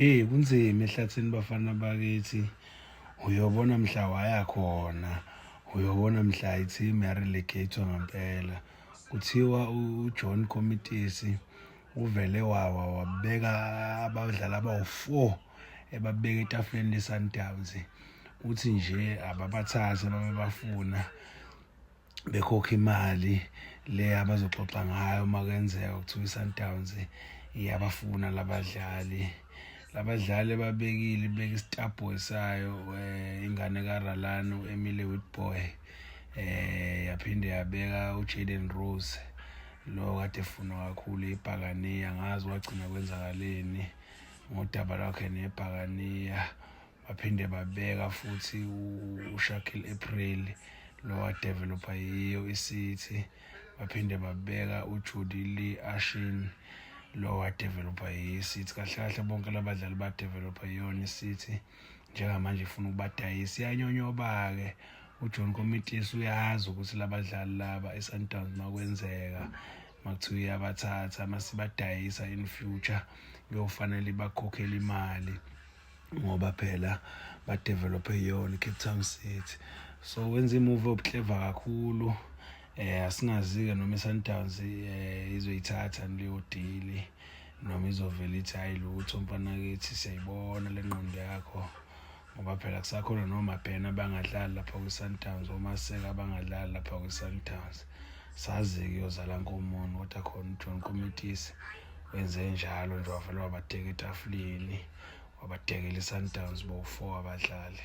Hey kunzima ehlathini bafana bakithi uyobona mhla waya khona uyobona mhla i-team yarelegatwa ngempela kuthiwa ujohn comitisi uvele wawa wabeka abadlali abawu-four ebabeka etafuleni lesundowns uthi nje ababathathe babebafuna bekhokha imali le abazoxoxa ngayo uma kwenzeka kuthiwa i-sundowns iyabafuna labadlali labadlali ababekile ibeka isitabhoy sayo um eh, ingane karalani u-emile witboy um eh, yaphinde yabeka ujaden rose lo kade efunwa kakhulu ibhakaniya ngazi wagcina kwenzakaleni ngodaba lwakhe nebhakaniya baphinde babeka futhi uShakil April lowadevelopha yiyo iCity baphinde babeka uJudy Lee Ashin lowadevelopha yiyo iCity kahle kahle bonke labadlali badevelopha yiyona iCity njengamanje ifuna ukubadayisa iyanyonyoba-ke ujohn komitisi uyazi ukuthi labadlali laba esundowns makwenzeka makuthiwa iyabathatha masibadayisa in future kuyofanele ibakhokhele imali ngoba phela badevelophe yona icape town city so wenza imuvi obuhleva kakhulu eh asingazi-ke noma i-sundowns eh izoyithatha leyo dili noma izovela ithi hhayi lutho mfanakithi siyayibona le nqondo yakho ngoba phela kusakhona nomabhena abangadlali lapha kwi-sundowns omaseka abangadlali lapha kwi-sundowns sazi-ke uyozala nkomoni kodwa khona ujohn komitisi wenze njalo nje wavele wabateka etafuleni wabadekela iSundowns bowu-four abadlali.